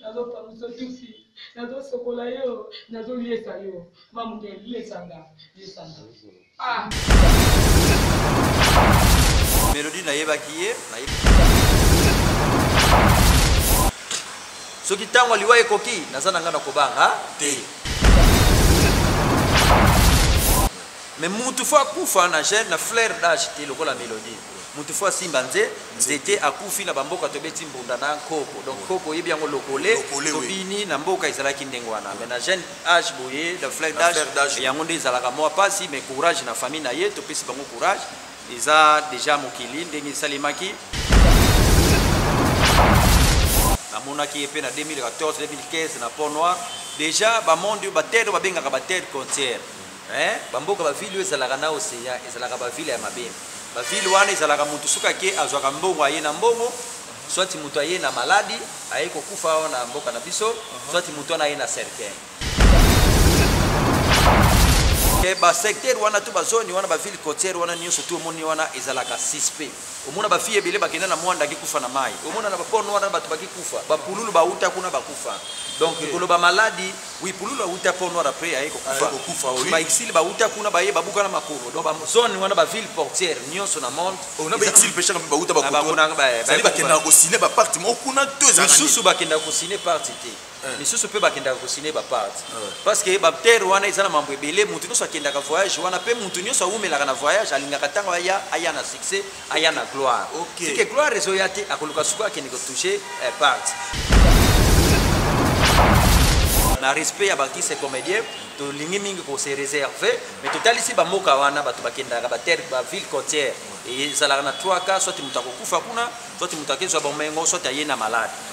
Nazopangusa tufi, nazosokola yo, nazoliesa yo ma mundele, liesa nga, liesa nga ah. Melodie nayebaki ye, nayebaki soki ntango liwa ekoki naza na ngai na kobanga te me mutu fo akufa na gene na flaire dage te lokola melodie moto fo asimba nze nzete akufi na bamboka tobeti mbunda na nkoko donc nkoko oyebi yango lokole tobini na mboka ezalaki ndenge wana mais na jeune age boye na flair d'age yango nde ezalaka mwa mpasi mais courage na famille na ye topesi bango courage eza deja mokili ndenge esalemaki namonaki ye mpe na 2014 2015 na pont noir deja bamonde oyo batele oyo babengaka batele contiere eh, bamboka bavile oyo ezalaka na ocean ezalaka bavile ya mabele bavile wana ezalaka motu soki ake azwaka mbongo aye na mbongo swati moto aye na maladi aye kokufa awa na mboka na biso uh-huh. swati moto wana aye na cercueil eh, basecteur wana to bazoni wana bavile cotiere wana nyonso to omoni wana ezalaka suspect omona bafille ebele bakenda na mwanda akikufa na mai omona na baporno wana bato bakikufa bapululu bauta kuna bakufa donc koloba maladi Oui, Pululu awuta Port Noir après aye kokufa. Aye kokufa oui. Ba exil ba wuta kuna baye babuka na makolo. Donc ba zone wana ba ville portière nyonso na monde. Oh, na ba exil peshaka mpe ba wuta ba koto. Ba kuna ba. Sali bakenda ko signer ba parti mo kuna to ezana. Misusu bakenda ko signer parti te. Eh. misusu mpe bakendaka kosine baparte eh. parce que batere wana eza na mambo ebele moto nyonso akendaka voyage wana mpe moto nyonso awumelaka na voyage alingaka ntango aya aya na succès aya na gloire okay. sike gloire ezoya te akoluka suku akende kotouche eh, part na respect ya bakise comédien tolingi mingi kose réserve mais totalisi bamboka wana bato bakendaka baterre baville côtière ezalaka na 3 cas soit moto akokufa kuna soit moto akezwa bomengo soit aye na malade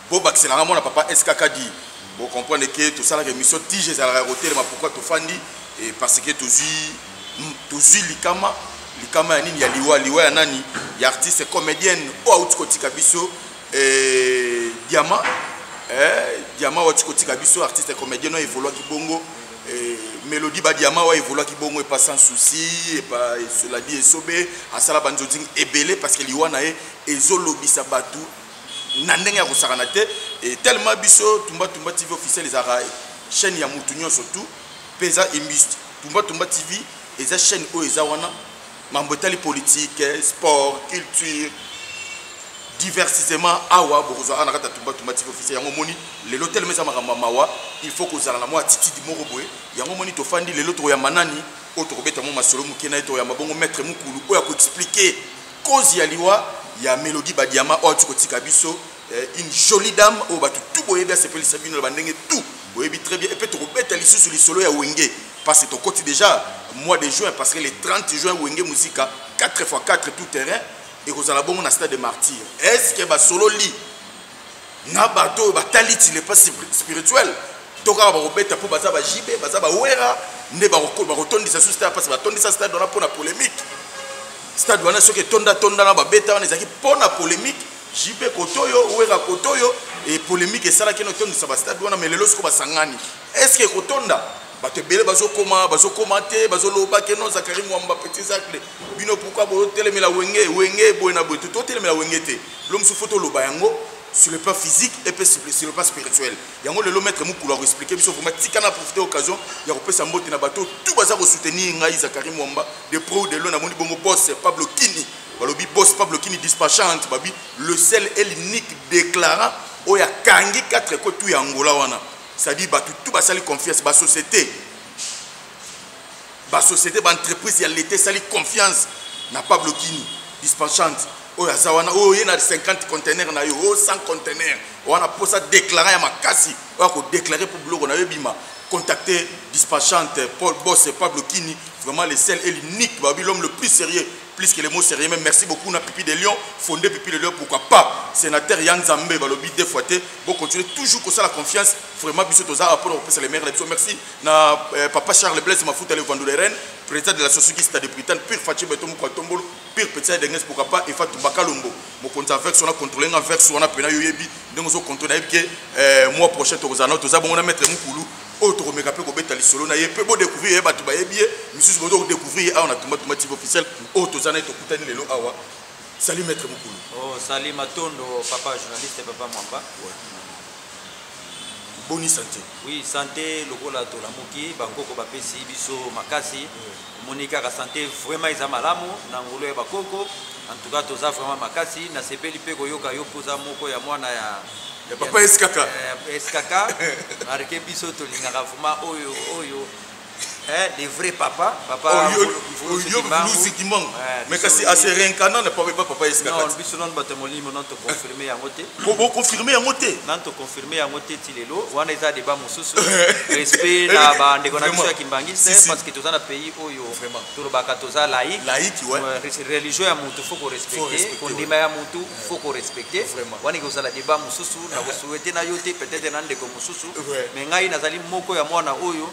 bobakisela nga mwana papa skk di bo comprendre ke tosalaka émission tige ezalaka ya kotelema pourkui tofandi eh, parce que tozwi tozwi likama likama ya nini ya liwa liwa ya nani ya artiste comédienne oyo auti kotika biso eh, diama eh, diama oyo auti kotika biso artiste comédienne oyo evoluaki bongo mélodie badiama oyo evoluaki bongo epa sans souci epa soladi esobe asala banzonzing ebele parce que liwa na ye ezolobisa bato na ndenge ya kosakana te e tellement biso tumba tumba tv officiel ezalaka chaîne ya mutu nyonso tout mpe eza imbuste tumba tumba tv eza chaîne oyo eza wana mambo etali politique sport culture diversitement awa bokozwa awa na kati ya tumba tumba tv officiel yango omoni lelo telema eza makambo ya mawa il faut kozala na mwa attitude moko boye yango omoni tofandi lelo tokoyamba nani oyo tokobeta mwa masolo moke na ye tokoyamba bongo maître mokulu oyo akoexplike Cause ya liwa ya Melodie Badiama oyo atuko tika biso eh, une jolie dame oyo batu tout boyebi asepelisa bino na bandenge tout boyebi très bien epe tokobeta lisusu lisolo ya wenge parce que tokoti déjà mois de juin parce que le 30 juin wenge musika 4 x 4 tout terrain ekozala bongo na stade de martyr est ce que basololi na bato oyo batali ti le pas spirituel to kaka bakobeta mpo baza ba jb baza bawera nde bakotondisa su stade mpasi batondisa stade wana mpo na polémique stade wana soki etonda tonda na babeta wana ezalaki mpo na polémique jp kotoyo wera kotoyo e polémique esalaki no tondisa bastade wana me lelo soko basangani est ce que ekotonda bato ebele bazokoma bazokoma te bazoloba ke no zakari mwamba petit zacle bino pourkui botelemela wenge wenge boye na boye totelemela wenge te L'homme se faut toloba yango sur le plan physique et puis sur le plan spirituel. Yango lelo maître Mukulu a expliquer biso vraiment tika na profiter occasion ya kopesa mbote na bateau tout baza ko soutenir ngai Zachary Mwamba de pro ou de loin na moni bongo boss Pablo Kini balobi boss Pablo Kini dispatchante babi le seul et l'unique déclarant oyo akangi 4 ko tout ya Angola wana c'est-à-dire bato tout basali confiance ba société ba société ba entreprise ya leta esali confiance na pablo kini dispatchante oyo aza wana oyo oye na 50 contenaire na yo oyo 100 contenaire wana mposa déclara ya makasi oyo akodeklare mpo biloko na yo ebima contacte dispatchante paul bos pablo kini vraiment le sel et l'unique babi l'homme le plus sérieux plus que le mot sérieux mais merci beaucoup na pipi de lion fondé pipi de lion pourquoi pas sénateur ya nzambe balobi deux fois te bocontinue toujours kosala confiance vraiment biso toza awa mpona kopesa le maire na biso merci na eh, papa charles blaise mafuta le vandula ren président de la société stade britanne pire fatie beto moko atombolo pire petit ya denges pourquoi pas efa tumbaka lombo mokonzi ya vex wana contrôle nga vex wana pena yo yebi ndenge ozo contrôle nayebi ke eh, mois prochain tokozala nao toza bongo na maître mukulu oyo tokomeka mpe kobeta lisolo na ye mpe bodécouvrir ye bato bayebi ye misusu bozo kodécouvrir ye awa na tumba tumba tive officiel oyo toza na ye tokutani lelo awa sali maître mokulu oh, sali matondo papa journaliste papa mwamba ouais. boni sante oui sante lokola tolamuki bakoko bapesi biso makasi omoni kaka sante vraiment eza malamu na ngulu ya bakoko en tout cas toza vraiment makasi nasepeli mpe koyoka yo mpoza moko ya mwana ya ya papa eskaka eh, eskaka marke biso tolingaka vraiment oyo oyo Hein, des vrais papas, papa Mvuluzi Kimbangu. Mais kasi à se réincarner ne peut pas papa Yeska. Non, biso non bato molimo non to confirmer yango te. Ko bo confirmer yango te. Non to confirmer yango te ti lelo. Wana eza débat mosusu. Respect na eh, ba ndeko na biso ya Kimbangu c'est parce que toza na pays oyo vraiment. Tolobaka toza laïque. Laïque ouais. Religion ya mutu faut ko respecter. Ko ndima ya mutu. faut ko respecter vraiment wani ko sala débat mususu na ko souhaiter na yote peut-être na ndeko mususu mais ngai nazali moko ya mwana oyo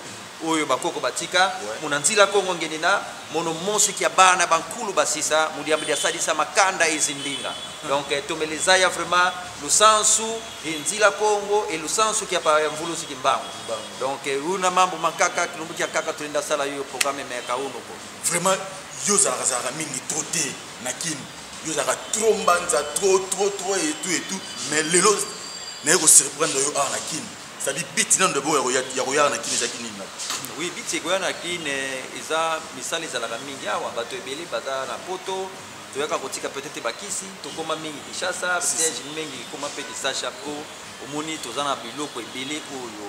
oyo bakoko batika muna nzila kongo ngende na mono monso kia bana bankulu basisa mudiambo dia salisa makanda ezindinga hmm. donc eh, tomeleza ya vraiment lusansu e nzila kongo e lusansu kia pa mvulusi kimbangu donc eh, una mambo mankaka kilumbu kia kaka tulinda sala yo programme meka unuko vraiment yo ozalaka zalaka mingi trop te na kini yo ozalaka trop mbanza trop trop trop et tout et tout mais lelo naye ko surprendre yo awa na kin c'est-à-dire biti nano debo ya koyaka na kin ezalaki nini oui biti ekoya na kin eh, eza misala ezalaka mingi awa bato ebele baza na poto toyaka kotika peut-être bakisi tokoma mingi kinshasa siège mingi ekoma mpe kisacha mpo omoni toza na biloko ebele oyo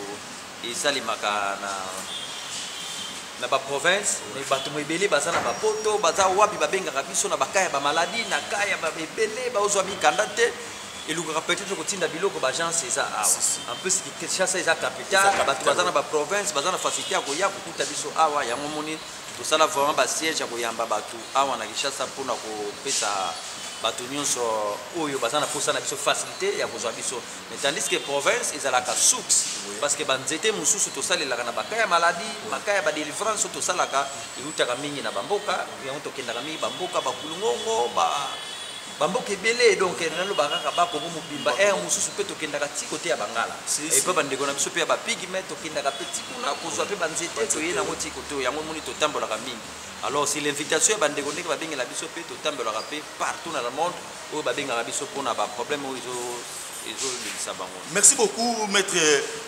esalemaka na na baprovince mais bato ebele baza na bapoto baza wapi babengaka biso na baka ya bamaladi na ka ya ebele baozwa mikanda te elukaka peut-être kotinda biloko baagence eza awa en plus kinshasa eza capital bato baza na baprovince baza na facilité ya koya kokuta biso awa yango moni tosala vraiment basiège ya koyamba bato awa na kinshasa mpona kopesa bato nyonso oyo baza na mposa na biso facilité ya kozwa biso mais tandis que province ezalaka source parce que banzete mosusu tosalelaka na baka ya maladie maka ya badelivrance oyo tosalaka eutaka mingi na bamboka yango tokendaka mingi bamboka bakulungongo ba bamboka ebele donc naloba kaka bakongo mobimba ere mosusu mpe tokendaka ti kote ya bangala epe bandeko na biso mpe ya bapigme tokendaka mpe ti kuna kozwa mpe banzete toye nango ti kote oyo yango moni totambolaka mingi alors si l'invitation ya bandeko ndenge babengela biso mpe totambolaka mpe partout na le monde oyo babengaka biso mpona ba problème oyo ezo ezolingisa bango merci beaucoup maître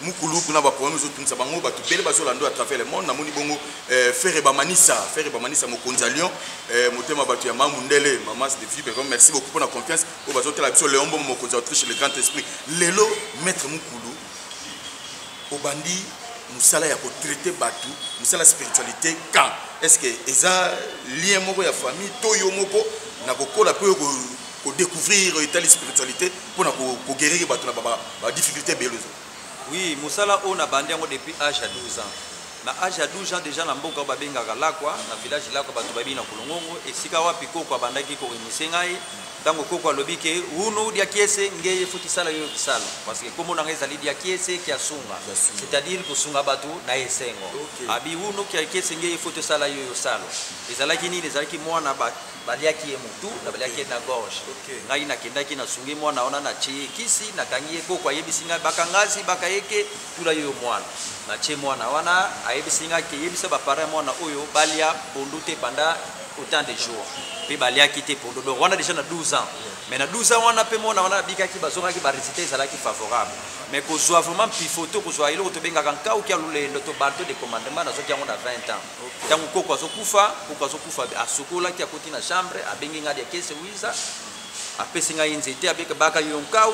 mukulu kuna baproblème ezotungisa bango bato bele bazolanda à travers le monde namoni bongo euh, ferre bamanisa ferre bamanisa mokonzi ya lion euh, motema bato ya mamu ndele mamas de vibre merci beaucoup mpona confiance oyo bazotala biso leon bongo mokonzi ya autriche le grand esprit lelo maître mukulu obandi musala ya ko traiter batu musala spiritualité quand est ce que eza lien moko ya famille to yo moko na kokola pe ko ko découvrir etali spiritualité pona ko, ko guérir batu na ba, ba, ba difficulté belozo oui musala oyo na bandi yango depuis âge ya 12 ans Na age ya 12 ans dejà na mboka oyo babengaka Lakwa, na village Lakwa batu bayebi na Kolongongo, esika wapi koko abandaki ko initier ngai, tango koko alobi que Hunu Diakiese nge il faut kisala yo kisala, parce que kombo na ngai ezali Diakiese Kiasunga, Kiasunga. c'est à dire kosunga batu na esengo. Ok. Abi Hunu Kiakiese nge il faut tosala yo yo salo. Ezalaki nini? Ezalaki mwana ba baliaki ye mutu, na baliaki ye na gorge. Ok. ngai nakendaki nasungi mwana wana natie ye kisi nakangi ye koko ayebisi ngai bakangasi bakayeke tula yo mwana na ce mwana wana ayebisi nga ke yebisa ba parents mwana oyo balia pondu te pendant autant de jours pe baliaki te pondu donc wana déjà na 12 ans mais na 12 ans wana pe mwana wana abikaki bazongaki ba résultat ezalaki favorable mais kozwa vraiment pifoto kozwa eloko tobengaka nkau kia lolendo to bato de commandement nazwaki yango na 20 ans ntango okay. koko azokufa koko azokufa asukolaki akoti na chambre abengi ngai ya kese wiza apesi ngai nzete abeka baka yo nkau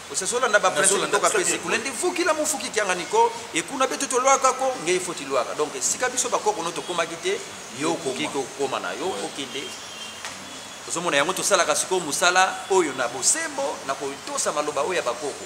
osazolanda baprincipe ntoka pesi kuna nde fukila mofuki kiangani ko ekuna betu tolwaka ko ngei fo tilwaka donc esika biso bakoko no tokomaki te yo okoki kokoma na yo okende ozomona yango tosalaka sikoyo mosala oyo na bosembo na kotosa maloba oyo ya bakoko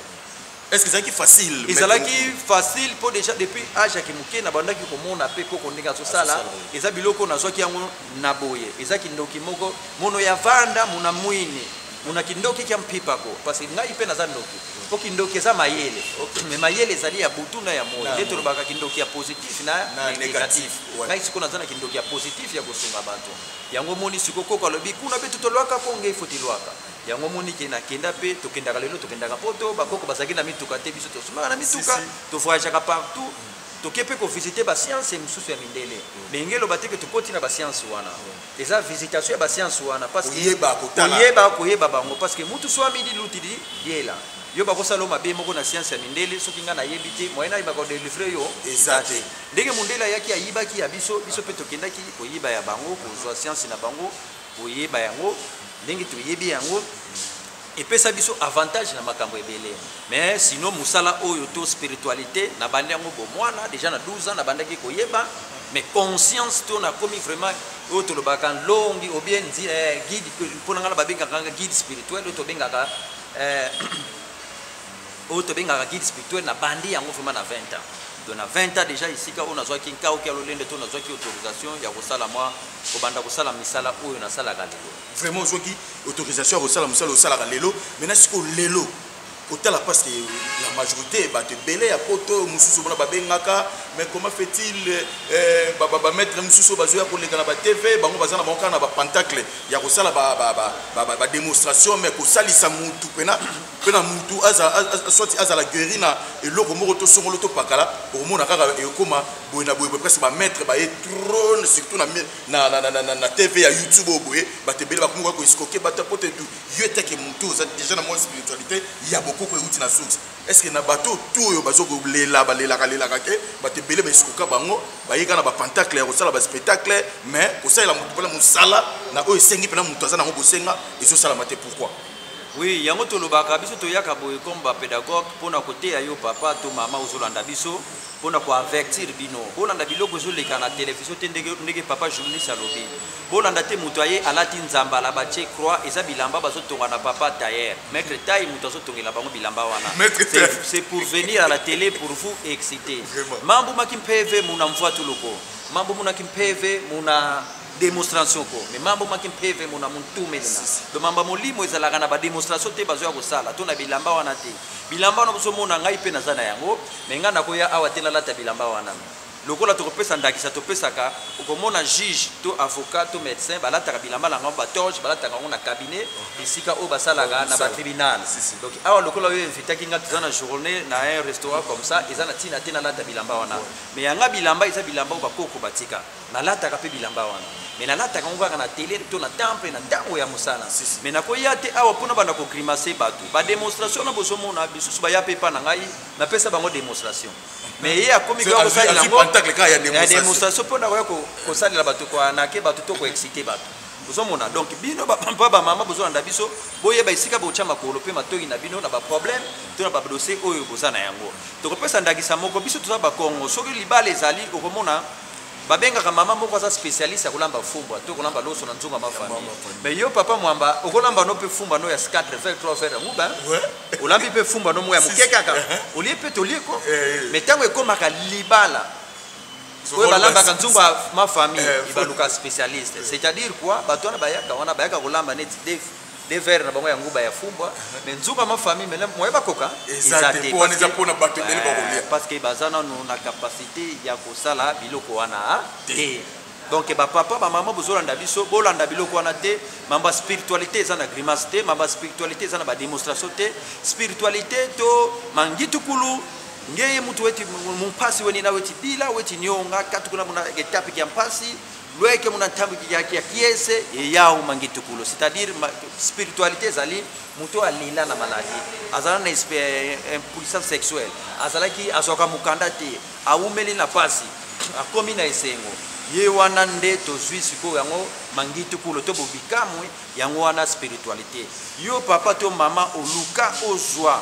est ce ezalaki facile ezalaki facile mpo déjà depuis age yaki moke nabandaki komona mpe koko ndenge azosala eza biloko nazwaki yango na boye eza kindoki moko mono ya vanda mona mwini Muna kindoki kia mpipa ko parce que ngai mpe naza ndoki mpo kindoki eza mayele mais mayele ezali ya butu na ya moi nde tolobaka kindoki ya positif na négatif ngai sikoyo naza na kindoki ya positif ya kosunga bato yango omoni sikoyo koko alobi kuna mpe totolwaka ko ngai fo tilwaka yango omoni ke nakenda mpe tokendaka lelo tokendaka poto bakoko bazalaki na mituka te biso tosungaka na mituka tovoyageaka partout toke mpe kovisite basianse mosusu ya mindele mais ngai eloba te ke tokoti na basianse wana eza visitation ya basianse wana koyeba koyeba bango parce que mutu so amidi lutidi diela yo bakosala mabe moko na sianse ya mindele soki ngai nayebi te moyen ayeba kodelivre yo eza te ndenge mondele ayaki ayibaki ya biso biso mpe tokendaki koyiba ya bango kozwa sianse na bango koyeba yango ndenge toyebi yango epesa biso avantage na makambo ebele mais sinon mosala oyo to spiritualité nabandi yango bomwana déjà na 12 ans nabandaki koyeba mais conscience to nakomi vraiment oyo tolobaka longi obien eh, guide mpo na ngai na babengaka nga guide spirituel oyo tobengaka eh, oyo tobengaka guide spirituel nabandi yango vraiment na 20 ans donc na 20 ans déjà esika oyo nazwaki nkauki ya lolendo to nazwaki autorisation ya kosala mwa kobanda kosala misala oyo nasalaka lelo vraiment ozwaki autorisation ya kosala mosala osalaka lelo mena sikoyo lelo kotala parce que la majorité bato ebele ya poto mosusu omona babengaka mais comment fait-il eh, bamaître mosusu bazoya koleka na batv bango baza na bango kaka na bapantacle ya kosala badémonstration mais kosalisa mutu pena pena mutu soit azala guéri na eloko moko to songolo topakala okomona kaka ekoma boye na boye presque bamaître baye trone surtout na na, na, na, na, na, na tv ya youtube oyo boye bato ebele bakomi koya koeskoke bato ya poto etu yo eteke motu oza deja na mwa spiritualité ya bokoko euti na source estce na bato tu oyo bazokolela balelaka lelaka te bato ebele baeskoka bango bayeka na bapentacle ya kosala baspectacle mais kosalela moto mpona mosala na oyo esengi mpena moto aza nango bosenga ezosalama te pourkui oui yango tolobaka biso toyaka boye comme bapédagogue mpona koteya yo papa to mama ozolanda biso mpo na koavertir bino bolanda biloko ezoleka na televizio te ndenge, ndenge papa journaliste alobi bolanda te moto aye alati nzambala batie croix eza bilamba bazotonga na papa tayer maître tai moto azotongela bango bilamba wana c'est pour venir à la télé pour vous exciter mambo maki mpeve muna mvua tuloko mambo munaki mpeve muna démonstration ko mais mambo maki mpeve muna montumelena do mamba molimo ezalaka na bademonstration te bazoya kosala to na bilamba wana te bilamba wana bozomona ngai mpe naza na yango me ngai nakoya awa te nalata bilamba wana lokola tokopesa ndakisa topesaka okomona juge to avocat to médecin balataka bilamba na yango batoge balataka yango na cabinet esika oyo basalaka na batribunal donc awa lokola oyo invitaki ngai toza na journée na un restaurant comme ça eza na ntina te nalata bilamba wana mais yanga bilamba eza bilamba oyo bakoko batika Nalataka pe bilamba wana. Mais nalataka yango kaka na tele to na temple na tango ya mosala. Mais nakoya te awa pona banda ko grimacer batu. Ba demonstration na bozo mona bisusu baya pe pa na ngai na pesa bango demonstration. Mais ye akomi kwa kosalela yango. Ya demonstration pona koya kosalela batu kwa na ke batu to ko exciter batu. Bozo mona donc bino ba papa ba mama bozo landa biso boyeba esika botia makolo pe matoyi na bino na ba problème to na ba dossier oyo boza na yango. Tokopesa ndakisa moko biso toza ba Kongo soki libala ezali okomona babengaka mama moko aza spécialiste ya kolamba fumbwa to kolamba loso na nzunga ma famille mais yo papa mwamba okolamba no mpe fumbwa no ya 4 verre 3 verre yango ba olambi mpe fumbwa no moko ya moke kaka uh-huh. olie mpe tolie ko eh, eh. mais ntango ekomaka libala oyo balambaka nzungu ma famille eh, ibaluka spécialiste c'est-à-dire quoi bato wana bayaka wana bayaka kolamba neti de verre na bango ya nguba ya fumbwa me nzunga ma famille mele moye bakoka eza te mpona bato ebele bakolia parce que baza nano na capacité ya kosala biloko wana ah, te donc bapapa bamama bozolanda biso bolanda biloko wana te mamba spiritualité eza na grimace te mamba spiritualité eza na bademonstration te spiritualité to mangitukulu ngeye mutu weti mumpasi weni na weti bila weti nionga katuku na mona etape kia mpasi loyeke mona ntango ya piese eyao mangitukulo c'est-à-dire spiritualité ezali moto oyo alela na maladie azala na eh, impuissance sexuelle azalaki azwaka mokanda te awumeli na mpasi akomi na esengo ye wana nde tozwi sikoyo yango mangitukulo to bobikamwi yango wana spiritualité yo papa to mama oluka ozwa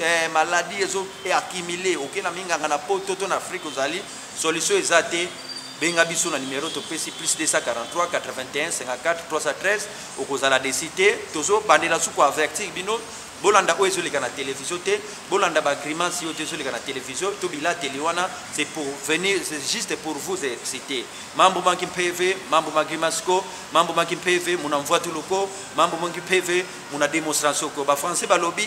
eh, maladie ezo e accumule oke na minganga na poto to na afrique ozali solution eza te benga biso na numero topesi plus 243 81 54 313 okozala desi te tozobandela su koavertir bino bolanda oyo ezoleka na televizio te bolanda bagrimance oyo ezoleka na televizio to bilateli wana c'est pour venir c'est juste pour vous exciter mambo manki mpeve mambo magrimasco mambo manki mpeve muna mvwatuluko mambo manki mpeve muna demonstration ko bafrançais balobi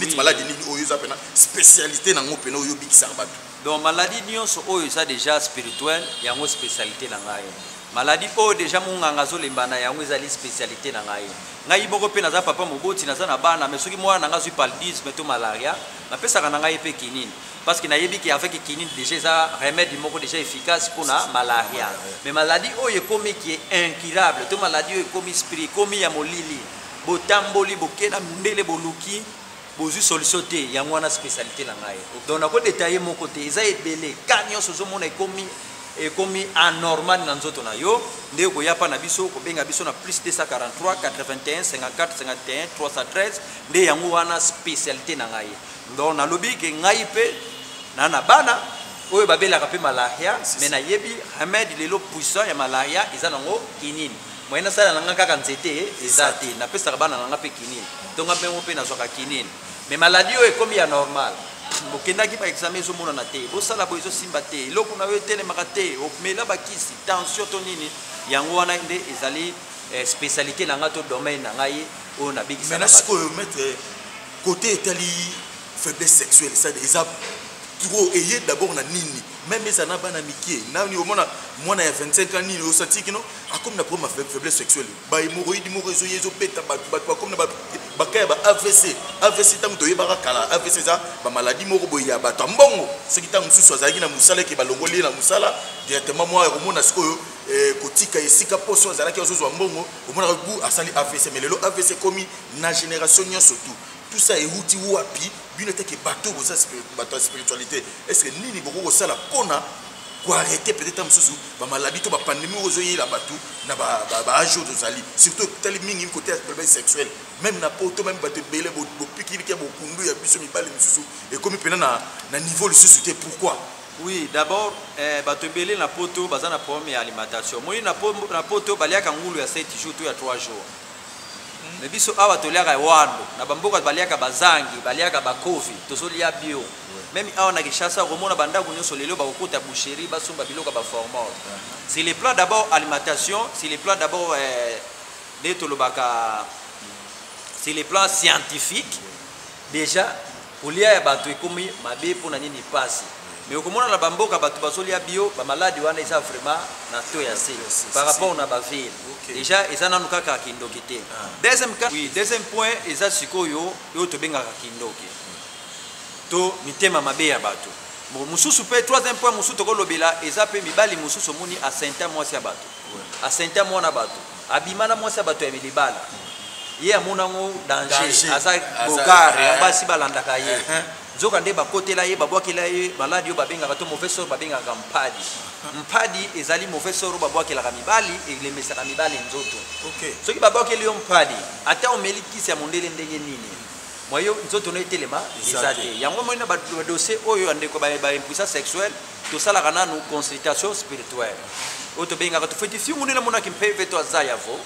neti maladi nini oyo eza mpena spécialité na yango mpena oyo obikisaka bato donc maladi nyonso oyo eza déjà spirituel yango spécialité na ngai maladi oyo déjà monganga azolemba na yango ezali spécialité na ngai ngai moko mpe naza papa moboti naza na bana mais soki mwana na ngai azwi paludisme to malaria napesaka na ngai mpe kinini parce que nayebi ke avec kinini déjà eza remède moko déjà efficace mpona malaria mais maladi oyo ekomi ki incurable to maladi oyo ekomi spri ekomi ya molili botamboli bokela mbele boluki bozwi solution te yango wana spécialité na ngai donc nako detaille moko te eza ebele ka nyonso ozomona ekomi ekomi anormal na nzoto na yo nde okoya mpa na biso kobenga biso na plus 243 81 54 51 313 nde yango wana spécialité na ngai donc nalobi ke ngai mpe na na bana oyo babelaka mpe malaria mais nayebi remède lelo puissant ya malaria eza nango kinini moyen nasala na nga kaka nzete eza te napesaka bana na nga mpe kinini to nga mpengo mpe nazwaka kinini mais maladie oyo ekomi ya normal bokendaki baexame ezomonana te bosala boye ezosimba te eloko na yo etelemaka te omela bakisi tension to nini yango wana nde ezali eh, spécialité na ngai to domaine na ngai oyo nabikisana sikoyo maître kote etali faiblesse sexuelle eza trop eye d'abord na nini meme eza na bana mikie nani omona mwana ya 25 ans nini osanti kino akomi na problème ya faiblesse sexuelle bahemoroïde moko ezoya ezobeta bato bato bakomi na baka ya ba avc avc ntango toyebaka kala avc eza bamaladi moko boye ya bato ya mbongo soki ntango mosusu azalaki na mosala eke balongoli ye na mosala directement mwa yakomona sikoyo eh, kotika esika poso azalaki azozwa mbongo omonaka bu asali avc me lelo avc ekomi na génération nyonso tout tout ça ewuti wapi bino eteke bato boza bato ya spiritualité est ce que nini bokoki kosala mpona koarrete peut-être ntango mosusu bamaladi to bapandemi oyo ezoyela bato na baage oyo tozali surtout etali mingi kote ya problème sexuel même na poto même bato ebele bopikiliki ya bokundu ya biso mibali mosusu ekomi mpena na niveau lisusu te pourquoi oui d'abord eh, bato ebele na poto baza na problème ya alimentation moi na poto baliaka ngulu ya 7 jours to ya 3 jours mais biso awa toliaka wando na bamboka baliaka bazangi baliaka bakofi tozolia bio meme awa na kinshasa okomona bandako nyonso lelo bakokota boucherie basomba biloko ya baformol sur le plan d'abord alimentation sur le plan d'abord eh, nde tolobaka sur le plan scientifique deja kolia ya bato ekomi mabe mpo na nini pasi mais okomona na bamboka bato bazolia bio bamaladi wana eza vraiment na to ya se par rapport na baville deja eza nanu kaka kindoki te ah. deuxième cas oui deuxième point eza sikoyo oyo tobengaka kindoki to mitema mabe ya bato mosusu mpe troisième point mosusu tokolobela eza mpe mibali mosusu omoni asenta mwasi ya bato asenta mwana bato abima na mwasi ya bato ya bilibala ye amona yango danger aza bogare eh. ya basi balandaka ye eh, eh. nzoka nde bakotela ye babwakela ye maladi oyo babengaka to mauvais sort babengaka mpadi mpadi ezali mauvais sort oyo babwakelaka mibali elemesaka mibali nzoto soki babwakeli yo mpadi ata omeli kisi ya mondele ndenge nini mwayo nzoto no etelema eza te yango omoni na badossier oyo ya ndeko baimpuissance sexuelle tosalaka nanu consultation spirituelle oyo tobengaka tofeti fingu nde namonaki mpeve to aza ya vo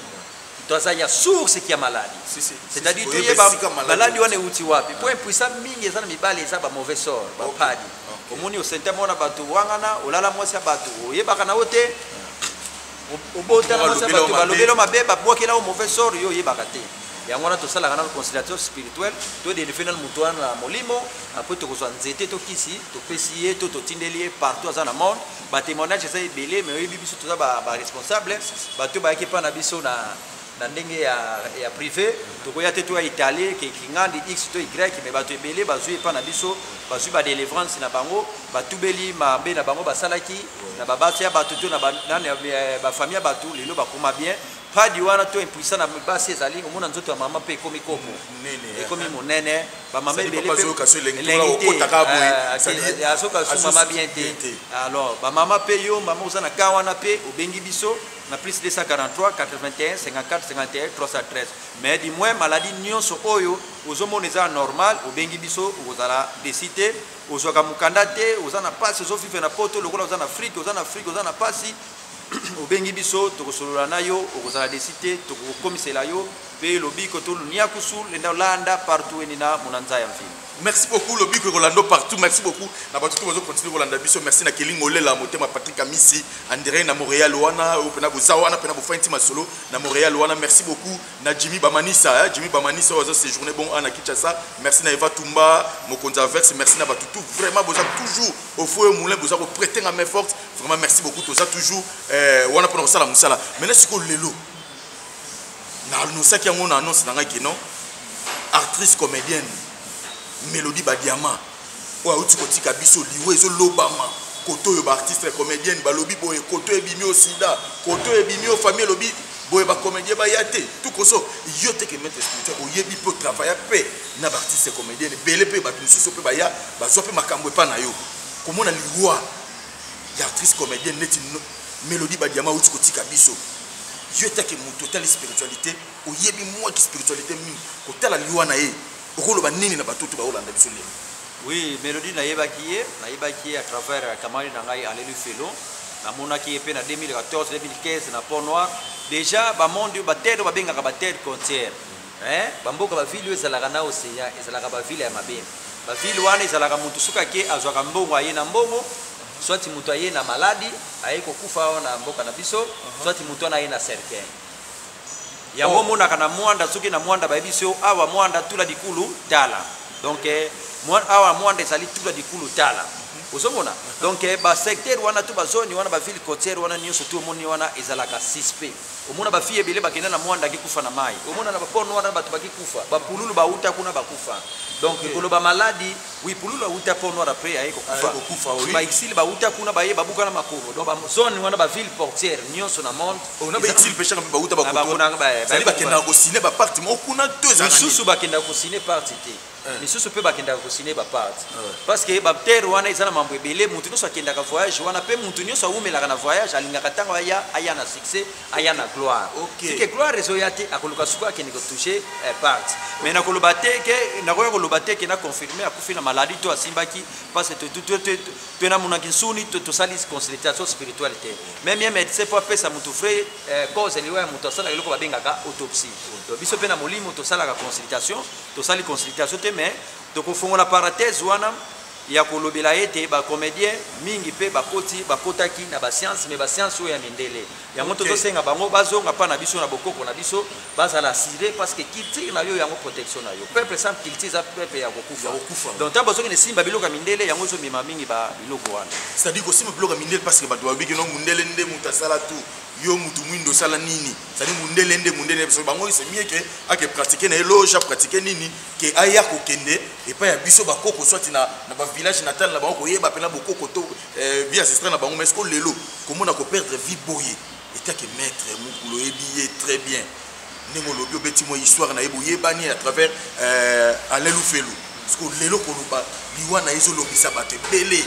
to aza ya source kia maladi c'est-à-dire toyeba maladi wana euti wapi mpo impuissant mingi eza na mibali eza ba mauvais sort bapadi omoni osentema wana bato wangana olala mwasi ya bato oyebaka na yo te obota na mwasi ya bato balobeli yo mabe babwakela yo mauvais sort yo oyebaka te yango wana tosalaka nano conciliateur spirituel todelifie nano moto wana na molimo apres tokozwa nzete to kisi topesi ye to totindeli ye partout aza na monde batémoignage eza ebele mais oyebi biso toza baresponsable bato bayaki epai na biso na na ndenge ya, ya privé tokoya te toya italie ke kingandi x to y me bato ebele bazwi epa na biso bazwi badelivrance na bango batubeli mabe na bango basalaki na babasi ya bato to na bafamille ya bato lelo bakoma bien padi wana to impuissant na basi ezali omona nzoto ya mama mpe ekomi kopo ekomi monene bamama ebeleazoka sumama bien te alors bamama mpe yo mama oza na ka wana mpe obengi biso na plus 243 81 54 51 313 mais du moins maladie nyonso oyo ozomona eza normal obengi biso okozala desi te ozwaka mokanda te oza na mpasi ozovivre na poto lokola oza na afrike oza na afrike oza na mpasi obengi biso tokosolola na yo okozala desi te tokokomisela yo mpe lobiko toluniakusu lenda olanda partout enina monanza ya mvini merci beaucoup lobiko ekolanda partout merci beaucoup na bato to bazo continue kolanda biso merci na kelinga olela motema patrik amisi andrei na montréal wana oyo mpena boza wana mpena bofai nti masolo na montréal wana merci beaucoup na jimmy bamanisa eh? jimmy bamanisa oyo aza séjourne bon ana kinshasa merci na eva tumba mokonzi averse merci na bato tout vraiment boza toujours au foyer moulin boza koprete nga main forte vraiment merci beaucoup toza toujours eh, wana mpona kosala mosala maintenant sikoyo lelo na annosaki yango na annonce na ngai ke non actrice comédienne mélodie badiama oyo auti kotika biso liwa ezolobama koto oyo baartiste comédienne balobi boye koto ebimi o sida koto ebimi o famille elobi boye bacomédien baya te tukoso yo te ke maître spirituel oyebi mpe otravaya mpe na baartiste comédienne ebele mpe bato mosusu mpe baya bazwa mpe makambo epa na yo komona liwa ya actrice comédienne neti mélodie badiama auti kotika biso yo etake moto otali spiritualité oyebi mwa ki spiritualité mingi kotala liwa na ye okoloba nini na bato to baolanda biso lelo oui mélodie nayebaki ye nayebaki ye à travers euh, camarade na ngai alelu felo namonaki ye mpe na 2014 2015 na pont noir déjà bamonde batede babengaka batede contiere eh, bamboka bavile oyo ezalaka na océan ezalaka bavile ya mabe bavile wana ezalaka motu soki ake azwaka mbongo aye na mbongo soit moto aye na maladi aye kokufa awa na mboka na biso mhm. soit moto wana aye na cercueil yango omonaka oh. na mwanda soki na mwanda bayebi biso oh, awa mwanda tula likulu tala donc eh, awa mwanda ezali tula likulu tala mhm. ozomona donc eh, basecteur wana to bazoni wana baville cotiere wana nyonso to omoni wana ezalaka suspect omona bafille ebele bakenda na mwanda akikufa na mai omona na baporno wana bato bakikufa bapululu bauta kuna bakufa donc koloba maladi Oui, Pululu awuta Port Noir après aye kokufa. Aye kokufa oui. Ba exil ba wuta kuna baye babuka na makolo. Donc ba zone wana ba ville portière nyonso na monde. On oh, a ba exil pêcheur mpe ba wuta ba koto. Ba kuna ba. Sali ba kenda ko signer ba parti mo kuna deux ans. Misusu ba kenda ko signer parti te. Eh. misusu mpe bakendaka kosine baparte eh. parce que batere wana eza na mambo ebele moto nyonso akendaka voyage wana mpe moto nyonso awumelaka na voyage alingaka ntango aya aya na succès aya na gloire okay. sike gloire ezoya te akoluka suku akende kotouche eh, part mais nakoloba te ke nakoya koloba te ke naconfirme akufi na maladie to asimbaki parce que namonaki nsuni tosali consultation spirituelle te meme ye médecin mpo apesa motu vrai eh, cause liwa ya moto asalaka eloko babengaka autopsie donc biso mpe na molimo tosalaka consultation tosali consultation te mais tokofongola parenthèse wana ya kolobela ete ba comediens mingi pe bakoti bakotaki na ba science mais ba science oyo ya mindele yango okay. tozosenga bango bazonga pa na biso na bokoko na biso bazala assuré parce que culture na yo yango protection na yo peuple sans culture eza peuple ya kokufa donc ntango bazongi nesimba biloko ya mindele yango ezomema mingi ba biloko wana c'est-à-dire kosimba biloko ya mindele parce que bato bayobi kino mondele nde moto asala tout yo mutu mwindo osala nini sadi mundele nde mundele biso bango se mieke ake pratike na ye loja pratike nini ke aya kokende epai ya biso bakoko swati na, na bavillage natal na bango koyeba mpena bokoko to eh, vie ancestral na bango mais ko lelo komona koperdre vie boye etake maître mokulu oyebi ye très bien ndenge olobi obeti mwa histoire na ye boyebani à travers euh, alain lufelu siko lelo koloba liwa na ye ezolobisa bato ebele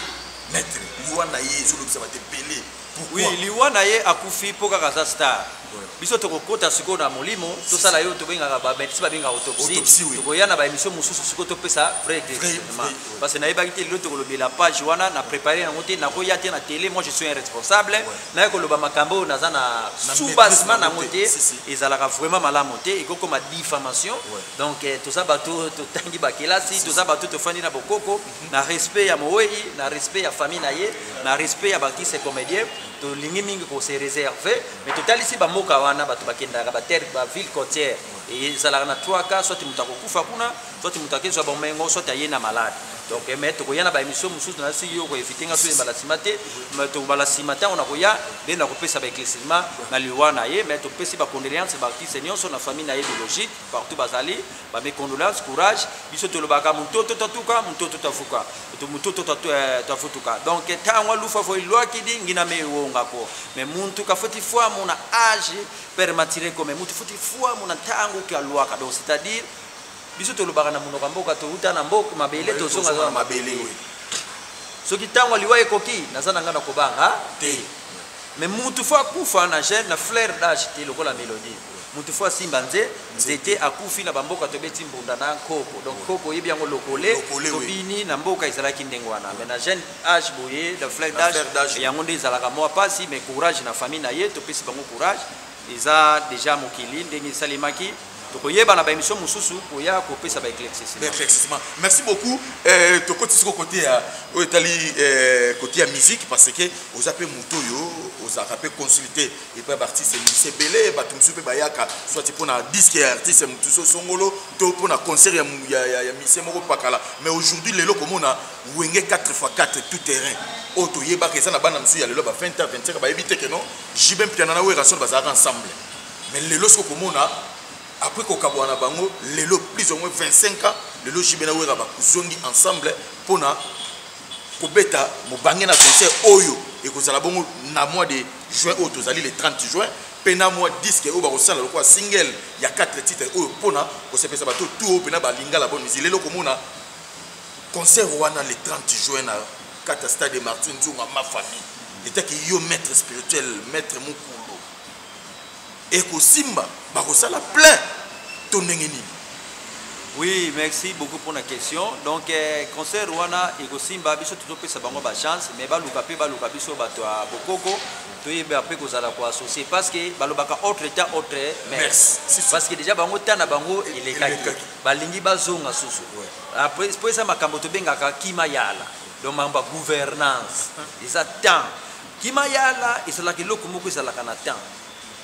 maître liwa na ye ezolobisa bato ebele Pourquoi? Oui, liwa na ye akufi mpo kaka aza star. Voilà. Biso tokokota sikoyo na molimo, tosala yo tobengaka ba medecin babenga autopsie. Autopsie, oui. Tokoya na ba émission mosusu sikoyo topesa vrai éclaircissement. vrai, oui. Parce que nayebaki te lelo tokolobela page wana na préparer yango te, nakoya te na télé, moi je suis un responsable. Naye koloba makambo oyo naza na Na sous-bassement maîtrise na yango yango te. te. Si, si. Ezalaka vraiment malamu te, ekokoma diffamation. Ouais. Donc eh, toza bato totangi bakelasi, toza bato tofandi na bokoko. na respect ya mowei na respect ya famille na ye na respect ya baartiste comédien tolingi mingi kose réserve mais totalisi bamboka wana bato bakendaka baterre baville côtière ezalaka na 3 cas soit moto akokufa kuna soit moto akezwa bomengo soit aye na malade donc eh, mais tokoya na baémission mosusu na si yo koevite nga soyebala nsima te mais tokobala nsima ntango nakoya nde nakopesa baeclaircissement na liwa na ye mais topesi bacondoléance baartiste nyonso na famille na ye biologique partout bazali ba mes condoléances courage biso tolobaka mutoto tatuka mutoto tafuka to mutoto tatu eh, tafutuka donc tangwa lufa foi loi qui dit ngina me wonga ko mais muntu ka foti foi mon âge permatiré comme muntu foti foi mon tango ki loi ka donc c'est-à-dire biso tolobaka na munoko mboka to uta na mboka mabele to zonga na mabele oui soki tangwa liwa ekoki naza na nga na kobanga te mais mutu fo akufa na jeune na flair d'âge te lokola mélodie moto fo asimba nze nzete akufi na bamboka tobeti mbunda na nkoko donc nkoko oyebi yango lokole tobini na mboka ezalaki ndenge wana mais na jeune age boye na fleur d'age yango nde ezalaka mwa mpasi mais courage na famille na ye topesi bango courage eza deja mokili ndenge esalemaki tokoyeba na baémission mosusu koya kopesa baéclaircissement merci beaucoup euh, tokoti siko kote ya oyo etali kote euh, ya musique parce que oza mpe moto oyo ozalaka mpe consulté epai ya baartiste mosusu ebele bato mosusu mpe bayaka soit mpo na diske ya artiste mosusu songolo to mpo na concert ya, ya, ya, ya misie moko pakala mais aujourd'hui lelo komona wenge 4 fois 4 tout terrain oyo oh, toyebaka eza na bana mosusu ya lelo ba 20 a 25 bayebi te keno jibe mpiana na werrason bazalaka ensemble mais lelo soki okomona apres kokabwana na bango lelo plus au moins 25 ans lelo jibe na wera bazongi ensemble mpo na kobeta mobange na concert oyo ekozala bongo na mois de juin oyo tozali le 30 juin mpe na mwa diske oyo bakosala lokola single ya 4 titre oyo mpona kosepesa bato tu oyo mpena balingala boni mizili lelo komona concert wana le 30 juin na kata stade martin nzonga ma famille etaki yo maître spirituel maître mokulu ekosimba bakosala plein to ndenge nini Oui, merci beaucoup pour la question. Donc, eh, concert Rwanda et Gosimba, biso tout peut sa bango ba chance, mais baluka pe baluka biso bato à Bokoko, to yebe après ko zala ko associer parce que balobaka autre état autre merci. Parce que déjà bango tana bango il est kaki. Balingi bazonga susu. Après pour ça makambo to bengaka kima yala. Donc mamba gouvernance. Ils attendent Kimayala ezalaka eloko moko ezalaka na temps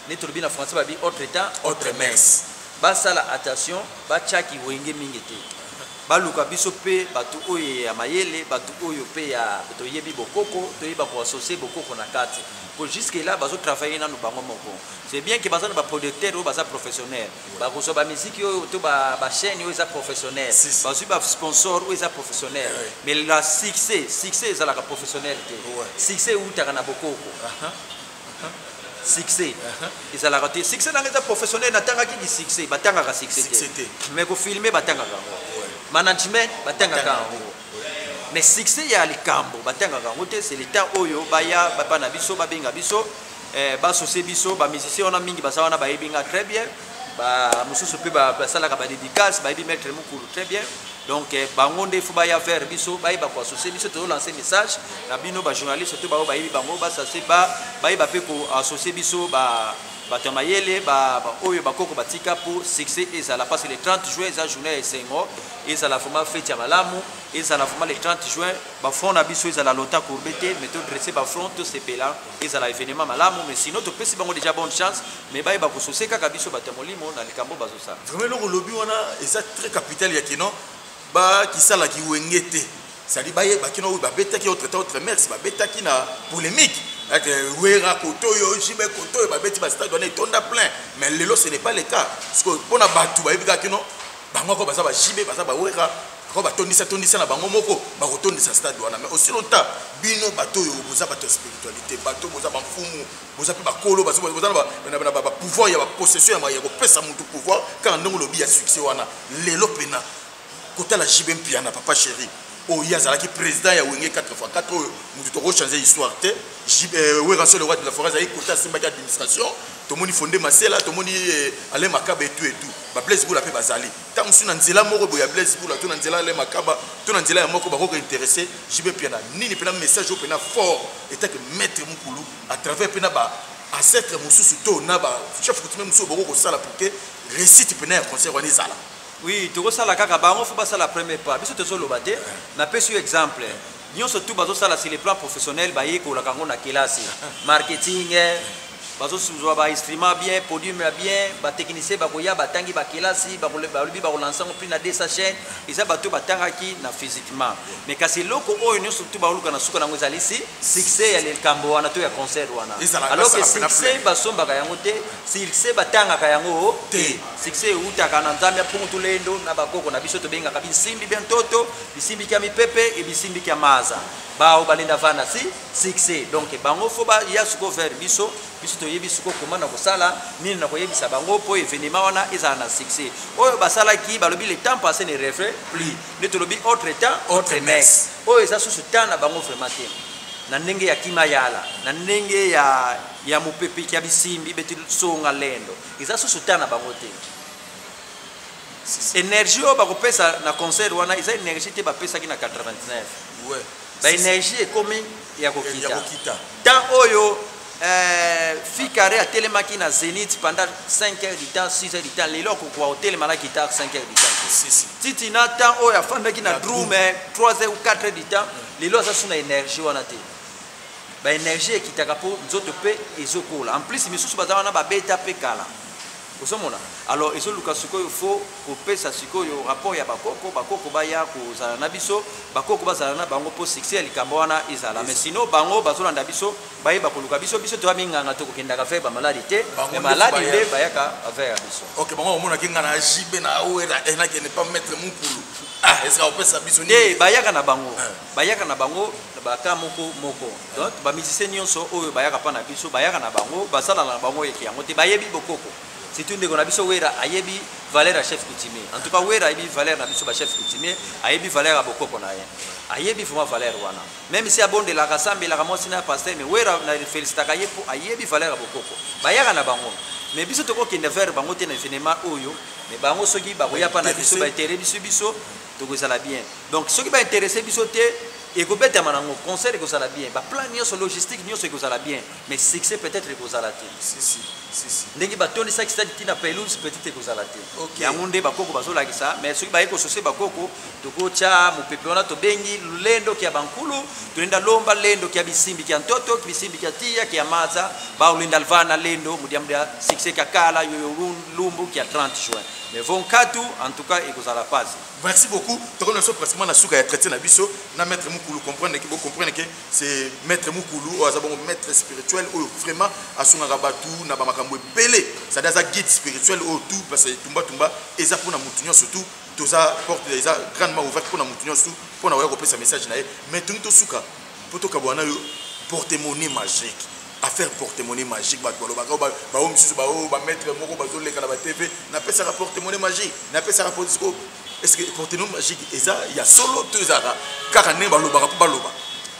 neti tolobi na français babi autre temps autre messe basala attention batyaki wenge mingi te baluka biso mpe bato oyo ya mayele bato oyo mpe ya toyebi bokoko toyeba koasocie bokoko na kati mpo jusque là bazotravaille nano bango moko c'est bien ke baza na baproducteur oyo baza professionnel bakozwa bamiziki oyo to bachaine oyo eza professionnel bazwi basponsor oyo eza professionnel mais la succès succès ezalaka professionnel te succès ewutaka na bokoko succès ezalaka te succès nanga eza professionnel natangaki di succès batangaka succès te mais kofilme batangaka yango management batangaka yango mais succès ya likambo batangaka yango te c'est l'état oyo baya bana biso babenga biso eh, basose biso bamusicien wana mingi baza wana bayebi nga très bien bamosusu mpe basalaka badédicace bayebi maître mokulu très bien donc eh, bango nde fo baya vers biso bayeba koassocie biso tozolance message na bino bajournaliste to baoyo bayebi bango basase bayeba mpe koassocie biso ba bato ya mayele oyo bakoko batika mpo succès ezala parce que le 30 juin eza journée ya esengo ezala vraiment fete ya malamu ezala vraiment le 30 juin bafront na biso ezala lota courbe te mais todresse bafront tosepela ezala evenement malamu mais sinon topesi bango déjà bonne chance mais bayeba kosose kaka biso bato ya molimo na likambo bazosala vraiment eloko olobi wana eza très capital ya kino bakisala kiwenge te sali bayeba kino oyo babetaki autre temps autre mers babetaki na polémique wera koto oyo jibe koto oyo babeti bastade wana etonda plein mais lelo ce n'est pas le cas sikoyo mpo na bato bayebi kaka kino bango ako baza ba JB baza ba Werra ako ba tondisa tondisa na bango moko ba ko tondisa stade wana mais aussi longtemps bino bato yo boza bato spiritualité bato boza ba mfumu boza pe bakolo bazo boza na ba ba ba pouvoir ya ba possession ya ko pesa mutu pouvoir kaka ndongo lobi ya succès wana lelo pena kotala JB Mpiana papa chérie oyo ye azalaki président ya wenge 4 fois 4 oyo moto tokochange histoire te euh, weraso le roi de la forêt azalaki kota asimbaki administration tomoni fonde masela tomoni euh, alain makaba etu etu bablaise bula mpe bazali ntango mosusu na nzela moko boye ya blaise bula to na nzela alain makaba to na nzela ya moko bakoki kointeresse jibe mpiana nini mpena message oyo mpena fort etake maître mokulu à travers mpena ba ancêtre mosusu to na ba chef coutumier mosusu bokoki kosala pour que réussite mpena ya concert wana ezala Oui, tokosala kaka bango faut basala premier pas. Biso tozoloba te. Napesi yo exemple. Nyonso tout bazosala sur le plan professionnel bayekolaka yango na kelasi. Marketing, bazozwa ba instrument bien, podium ya bien, batechnicien bakoya batangi bakelasi, balobi bakolansa yango prix na 200 chaine. Eza bato batangaki na physiquement. Mais kasi eloko oyo nyonso tout baoluka na suka nango ezali si succès ya likambo wana to ya concert wana. Alors que succès basombaka yango te, succès batangaka yango te. Succès ewutaka na Nzambe mpungu tulendo na bakoko na biso tobengaka bisimbi bya ntoto bisimbi kya mipepe e bisimbi kya maza bao balenda vanda si succès donc bango fo baya suko vers biso biso toyebi suko koma na kosala nini na koyebisa bango mpo evenema wana ezala na succès oyo basalaki balobi le temps passé ne refait plus nde tolobi autre temps autre messe oyo eza susu temps na bango vraiment te na ndenge ya kimayala na ndenge ya ya mopepe kya bisimbi beti songa lendo eza susu temps na bango te énergie oyo bakopesa na concert wana eza énergie te bapesaki na 89 ouais. baénergie ekomi ya kokita temps oyo euh, fikare atelemaki na zénith pendant 5 heures du temps 6 heures du temps lelo akokoka kotelema na guitare 5 heures du temps titi na temps oyo afandaki na drume 3 heures ou 4 heures du temps lelo aza su na énergie wana te ba energie ekitaka mpo nzoto mpe ezokola en plus misusu baza wana babeta mpe kala ozomona alors ezoluka sikoyo fo kopesa sikoyo rapport ya bakoko bakoko baya kozala na biso bakoko bazala na bango mpo succès ya likambo wana ezala mais sino bango bazolanda biso baye bakoluka biso biso toya minganga tokokendaka vere bamaladi te mais maladi nde bayaka vere ya biso ok bango bamonaki ngai na jb na oyo enakende pa maître mokulu ah ezala kopesa biso nde bayaka na bango eh. bayaka na bango na baka moko moko donc bamusicien nyonso oyo bayaka mpa na biso bayaka na bango basalaka na bango eke yango te bayebi bokoko surtout ndeko na biso wera ayebi valeur ya chef coutumier en tout cas wera ayebi valeur na biso bachef coutumier ayebi valeur ya bokoko na ye ayebi vraiment valeur wana même si abondelaka asambelaka mwasi na pasteur mais wera na felicitaka ye mpo ayebi valeur ya bokoko bayaka na bango mais biso tokokende vers bango te na evenement oyo mais bango soki bakoya mpa na biso baetere biso biso tokozala bien donc soki bainteresse biso te ekobetama nango concert ekozala bien baplan nyonso logistique nyonso ekozala bien mais succès peut-être ekozala te ndenge batondisaki stade ntina pelouse petite ekozala te yango nde bakoko bazolakisa mais soki baye kosose bakoko tokotya mopepe wana tobengi lendoki ya bankulu tolenda lomba lendoki ya bisimbi kya ntoto bisimbi kya tiya kya maza baolenda lvana lendo mudiamdia succès kya kala yoyo lumbu kya 30 juin Mais vont nkatu en tout cas ekozala pasi merci beaucoup tokomi na biso pratiquement na suka ya traité na biso na maître mukulu comprendre ke bocomprendre ke c'est maître mukulu oyo aza bongo maître spirituel oyo vraiment asungaka bato na bamakambo ebele sadi aza guide spirituel oyo tout parce que tumbatumba eza mpona motu nyonso tout toza porte eza grandement ouverte mpona motu nyonso tout mpona oya kopesa message na ye mais tongi tosuka mpo tokabwana yo portemone magique affaire porte-monnaie magique bato balobaka baoyo mosusu baoyo bamaître moko bazoleka na batv napesaka porte-monnaie magique napesaka polisko est-ce que porte-monnaie magique eza ya solo to ezalaka kaka ndenge balobaka mpo baloba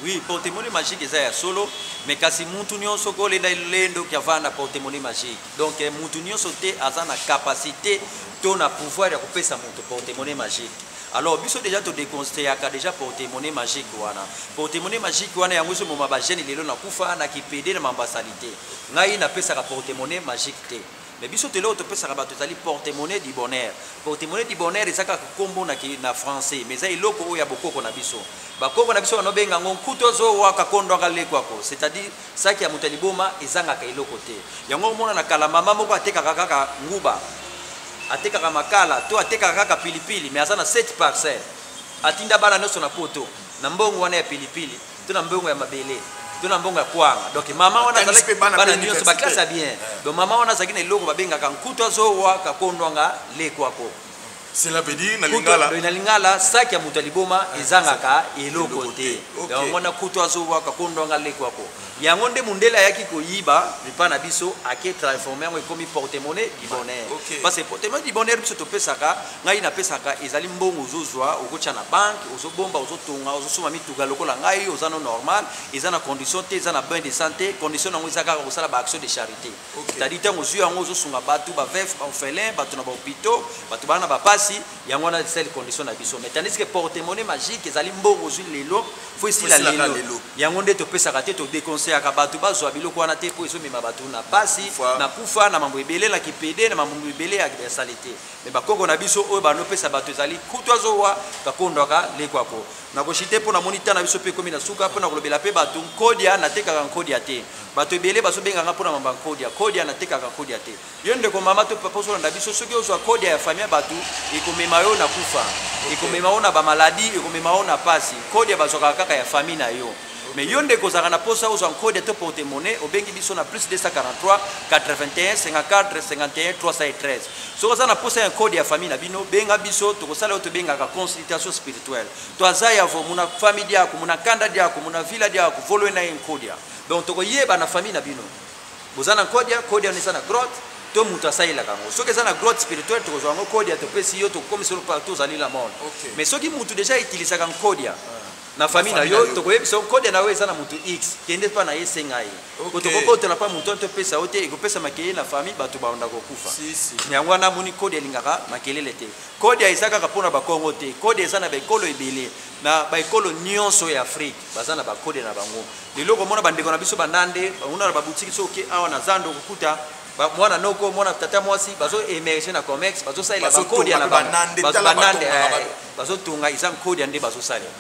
oui porte-monnaie magique eza ya solo mais kasi mutu nyonso kolenda elendo ki avanda porte-monnaie magique donc eh, mutu nyonso te aza na capacité to na pouvoir ya kopesa moto porte-monnaie magique Alors biso deja to deconstruaka deja porte monnaie magique wana. Porte monnaie magique wana yango so moma ba jeunes lelo na kufa na kipede na mambasalite. Ngai na pesaka porte monnaie magique te. Mais biso te leo to pesaka bato ezali porte monnaie du bonheur. Porte monnaie du bonheur ezaka kombo na ki na français mais eza eloko oyo ya bokoko na biso. Bakoko na biso banobenga ngo nkutozo waka kondwaka lekwako c'est-à-dire Saki ya moto ya liboma ezangaka eloko te. Yango omona na kala mama moko atekaka kaka nguba, atekaka makala to atekaka kaka pilipili, mais aza na 7 parcelle. Atinda bana nyonso na poto na mbongo wana ya pilipili to na mbongo ya mabele to na mbongo ya kwanga. Donc mama wana azalaki bana nyonso ba classe ya bien. Donc mama wana azalaki na eloko babengaka nkutu azowa kakondwanga lekwako. cela veut dire na lingala na lingala sac ya moto ya liboma ah, ezangaka eloko te yango mwana kutu azobwaka kondwanga leko yako yango nde mondele ayaki koyiba lipa na biso ake transforme yango ekomi portemone du bonheur parce que portemone du bonheur biso topesaka ngai napesaka ezali mbongo ozozwa okotya na banke ozobomba ozotonga ozosoma mituka lokola ngai oza no normal eza na condition te eza na bain de santé condition yango eza kaka kosala baaction de charité okay. tadi ntango ozwi yango ozosunga bato bavef baorphelin bato na bahopitaux bato bana na bapasi yango wana esali condition na biso mais tandis que portemone magique ezali mbongo ozwi lelo fo esila lelo yango nde topesaka te todeconseillaka bato bazwa biloko wana te mpo ezomema bato na pasi na kufa na mambo ebele na kipede na mambo ebele ya sali te mais bakoko na biso oyo banopesa bato ezali kutu azowa kakondwaka lekwako nakoshi te mpo namoni ntan na biso mpe ekomi na suka mpo na kolobela mpe bato nkodia natekaka nkodia te Bato ebele bazo benga nga pona mamba kodia kodia na tekaka kodia te yo ndeko mama to papa ozolanda biso soki ozwa kodia ya famille bato ekomema yo na kufa ekomema yo na ba maladie ekomema yo na pasi kodia bazwaka kaka ya famille na yo mais yo ndeko ozalaka na posa ozwa kodia to porte monnaie obengi biso na plus 243 81 54 51 313 soki oza na posa ya kodia ya famille na bino benga biso tokosala yo tobengaka consultation spirituelle to aza ya vo muna famille diako muna kanda diako muna villa diako volwe na ye nkodia donc tokoyeba na famille na bino boza na kodia kodia wana eza na grotte to moto asalelaka yango soki eza na grotte spirituel tokozwa yango kodia topesi yo tokomisi yo partout ozali la monde okay. mais soki moto deja utilisaka nkodia ah. na famille na yo tokoyebisa nkodia na yo eza na moto x kende mpa na ye esenga ye po tokobotola mpa moto topesa yo te ekopesa makelele na famille bato baonda kokufa yango wana amoni kodia elingaka makelele te kodia eza kaka mpo na bakongo te kodia eza na baekolo ebele na baekolo nyonso ya afrike baza na bakodia na bango lelo okomona bandeko na biso banande banguna na babutiki so oke awa na zando okokuta mwana noko mwana tata mwasi bazo emerge na comex bazosalela bankodia na banande eh, bazotonga eza nkodia nde bazosalela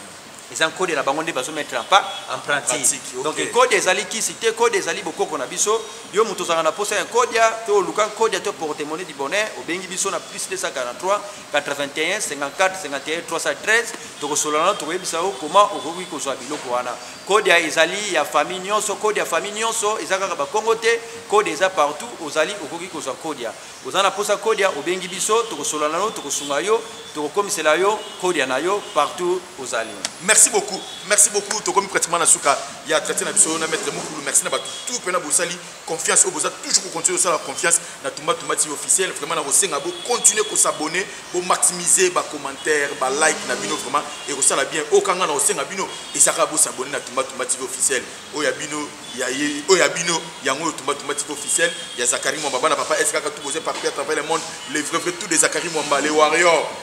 eza nkodia na bango nde bazomettre en pratique donc nkodia ezali kisi te nkodia ezali bokoko na biso yo moto ozalaka na mposa ya nkodia to oluka nkodia to portemone du bonheur obengi biso na plus 243 81 54 51 313 tokosolola na tokoyebisa yo koma okoki kozwa biloko wana kode ya ezali ya famille nyonso kode ya famille nyonso eza kaka bakongo te kode eza partout ozali okoki kozwa kode ya oza na mposa kode ya obengi biso tokosolola na yo tokosunga yo tokokomisela yo kode ya na yo partout ozali merci beaucoup merci beaucoup tokomi pratiquement na suka ya traite na biso na maître mokulu merci na bato tout mpe na bosali confiance oyo boza toujours kocontinue kosala confiance na tumba tumba tv officiel vraiment nakosenga bocontinue kosabone bomaximise bacommentaire balike na bino vraiment ekosala bien oyo kanga na kosenga bino ezaka bosabone na tumba tumba tv officiel oyo ya bino oyo ya bino yango oyo tumba tumba tv officiel ya zakari mwamba bana papa eskaka tout boza partout à travers le monde le vrai vrai tout de zakari mwamba le warrior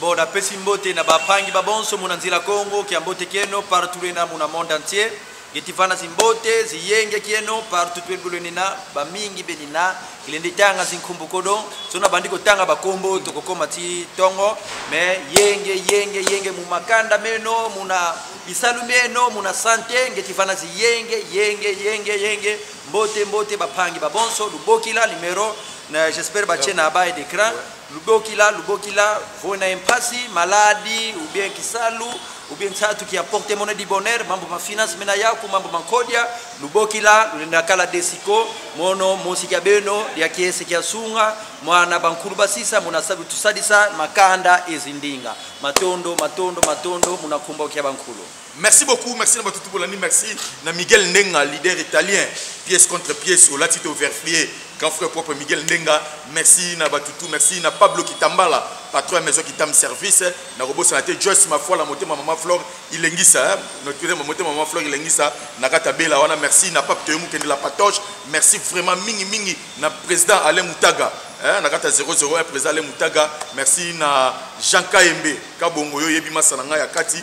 Bon, napesi mbote na bapangi babonso muna nzela Kongo kia mbote kieno partout na muna monde entier getivana zimbote ziyenge kieno partout twebulweni na bamingi beni na kilende tanga zinkumbu kodo so nabandi kotanga bakombo tokokoma ti tongo me yenge yenge yenge mumakanda meno muna bisalu meno muna sante ngetivana ziyenge yenge yenge yenge mbote mbote bapangi babonso lubokila numero j'espère batie na ba et d'écran Lubokila, lubokila, voi na impasi, maladi, ou bien kisalu, ou bien tatu qui apporte monnaie du bonheur, mambo ma finance mena yaku, mambo ma kodia, lubokila, lulenda kala desiko, mono, mosi kia beno, dia kiese kia sunga, mwana bankulu basisa, muna sabu tusadisa, makanda ezindinga. Matondo, matondo, matondo, muna kumbo kia bankulu. Merci beaucoup, merci na batu tout bolandi, merci na Miguel Ndenga, leader italien, pièce contre pièce, au latito verfier, grand frère propre Miguel Ndenga, merci na batu tout, merci na Pablo Kitambala, patron ya maison Kitam service, na robot sanate Joyce Mafua la moté maman Flore, ilengisa, hein? notre président moté maman Flore ilengisa, na kata bela wana, merci na Pape Toyemu kende la patoche, merci vraiment mingi mingi na président Alain Moutaga, hein? na kata 001 président Alain Moutaga, merci na Jean Kaembe, kabongo yo yebi masana nga ya kati